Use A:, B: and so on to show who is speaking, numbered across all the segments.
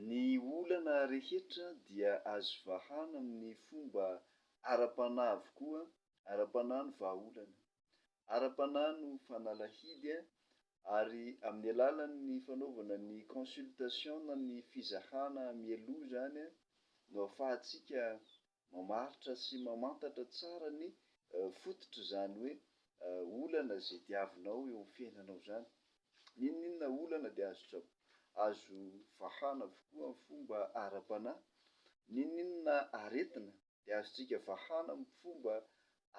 A: Ny olana rehetra dia azo vahana amin'ny fomba ara-panahy avokoa, ara-panahy no vahaolana. Ara-panahy no fanalahidy ary amin'ny alalan'ny fanaovana ny consultation na ny fizahana mialoha izany no ahafahantsika mamaritra sy mamantatra tsara ny fototr'izany hoe olana izay diavinao eo amin'ny fiainanao izany. N'inon'inona olana dia azo azo vahana avokoa amin'ny fomba ara-panahy. N'inon'inona aretina dia azontsika vahana amin'ny fomba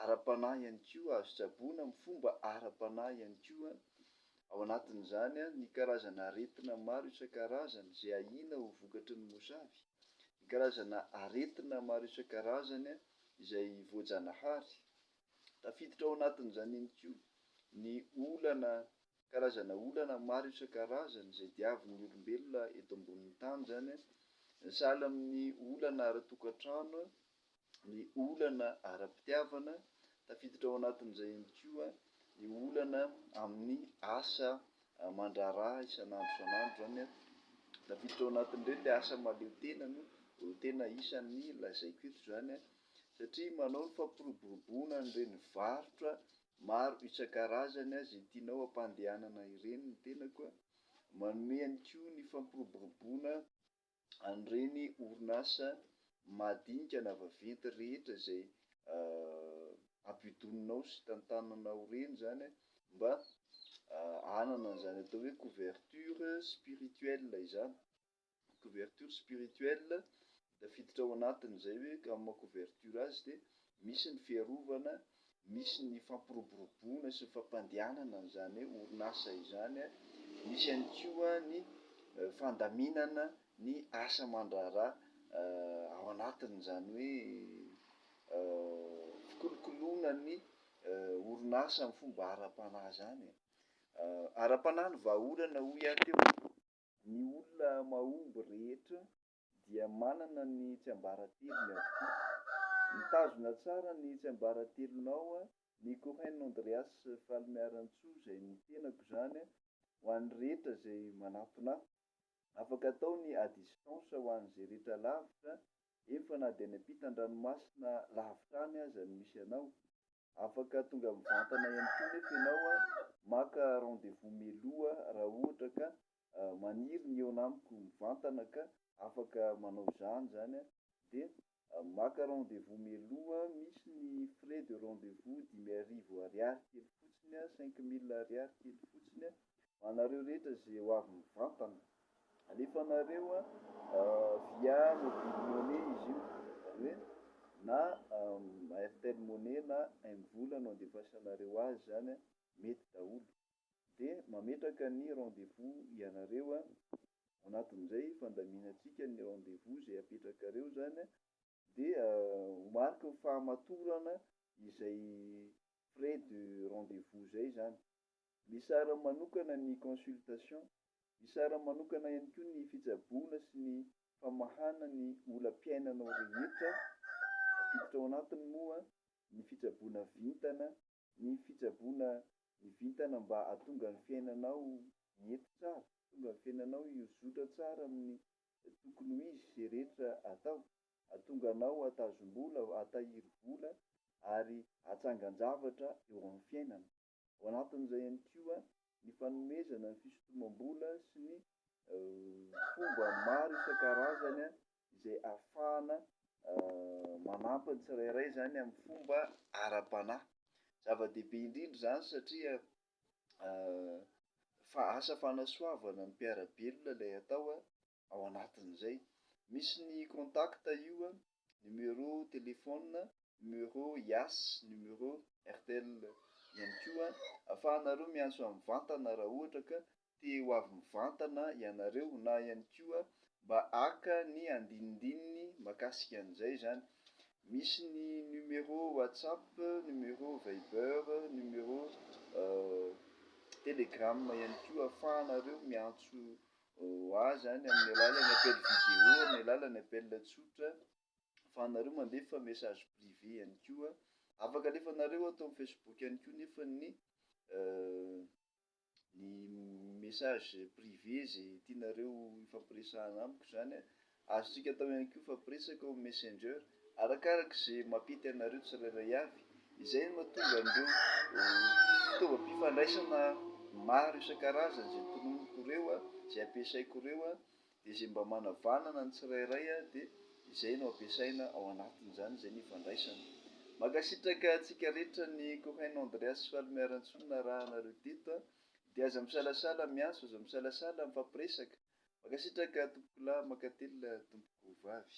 A: ara-panahy ihany koa, azo tsaboina amin'ny fomba ara-panahy ihany koa, ao anatin'izany ny karazana aretina maro isan-karazany izay ahiana ho vokatry ny mosavy, ny karazana aretina maro isan-karazany izay voajanahary. Tafiditra ao anatin'izany ihany koa ny olana karazana olana maro isan-karazany izay diavin'ny olombelona eto ambonin'ny tany izany an, sahala amin'ny olana ara-tokantrano, ny olana ara-pitiavana, tafiditra ao anatin'izay ihany koa ny olana amin'ny asa aman-draharaha isan'andro isan'andro izany an, tafiditra ao anatin'ireny ilay asa mahaleo tena no tena isan'ny lazaiko eto izany an, satria manao ny fampiroboroboana an'ireny varotra Maro isan-karazany aza i tianao ampandehanana ireny ny tenako a! Manome ihany koa ny fampiroboroboana an'ireny orinasa madinika na vaventy rehetra izay ampidoninao sy tantananao ireny izany a, mba hanana an'izany atao hoe couverture spirituelle izany. couverture spirituelle tafiditra ao anatiny izay hoe ka maha couverture azy dia misy ny fiarovana, misy ny fampiroboroboana sy ny fampandehanana an'izany orinasa izany, misy ihany koa ny fandaminana ny asa aman-draharaha ao anatiny izany hoe fikolokoloana ny orinasa amin'ny fomba ara-panahy izany e. Ara-panahy ny vahaolana hoy aho teo e. Ny olona mahomby rehetra dia manana ny tsiambaratelony avokoa. Mitazona tsara ny tsiambaratelonao ny Cohen Andreas Falimiarantsoa izay ny tenako izany ho an'ny rehetra izay manatona ahy. Afaka atao ny à distance ho an'izay rehetra lavitra, eny fa na dia any ampitan-dranomasina lavitra any aza no misy anao. Afaka tonga mivantana ihany koa nefa ianao, maka rendez-vous mialoha raha ohatra ka maniry ny hihaona amiko mivantana ka afaka manao izany izany dia maka rendez-vous mialoha, misy ny frais de rendez-vous dimy arivo ariary kely fotsiny, cinq mille ariary kely fotsiny, ho anareo rehetra izay ho avy mivantana. Alefa anareo a via mobile money izy io zany hoe na airtel money na mvola no andefasanareo azy zany a mety daholo de mametraka ny rendez vous ianareo a anatin'izay fandaminantsika ny rendez vous zay apetrakareo zany a dia ho mariky ny fahamatorana izay frais de rendez-vous izay izany. Misara manokana ny consultation. Misara manokana ihany koa ny fitsaboana sy ny famahana ny olam-piainanao rehetra. Tafiditra ao anatiny moa ny fitsaboana vintana Ny fitsaboana ny vintana mba hahatonga ny fiainanao hiety tsara, hahatonga ny fiainanao hihozotra tsara amin'ny tokony ho izy izay rehetra atao, hahatonga anao hahatazom-bola, hahatahiry vola ary hahatsangan-javatra eo amin'ny fiainana. Ao anatin'izay ihany koa ny fanomezana ny fisotomam-bola sy ny fomba maro isan-karazany izay ahafahana manampy ny tsirairay izany amin'ny fomba ara-panahy. Zava-dehibe indrindra izany satria fa asa fanasoavana ny mpiara-belona ilay atao ao anatin'izay. Misy ny contact io a, numéro téléphone, numéro yas, numéro airtel ihany koa ahafahanareo miantso mivantana raha ohatra ka te ho avy mivantana ianareo na ihany koa mba haka ny andinindininy makasika an'izay izany. Misy ny numéro WhatsApp, numéro Viber, numéro Telegram ihany koa ahafahanareo miantso azy any amin'ny alalan'ny appel vidéo, amin'ny alalan'ny appel tsotra, ahafahanareo mandefa message privé ihany koa. Afaka alefanareo ato amin'ny Facebook ihany koa nefa ny. ny message privé zay tianareo hifampiresahana amiko zany a, azontsika atao ihany koa hifampiresaka ao amin'ny messenger, arakaraka ze mampety anareo tsirairay avy, izay no mahatonga an'ireo fitaovam-pifandraisana maro isan-karazany zay tononiko reo a, zay ampiasaiko reo a, Dia izay mba manavanana ny tsirairay dia izay no ampiasaina ao anatin'izany izay no ifandraisana. Mankasitraka antsika rehetra ny Cohen Andreas sy Falomaiarantsoa naraha anareo teto dia aza misalasala miantso aza misalasala mifampiresaka. Mankasitraka tompokolahy mankatelina tompokovavy.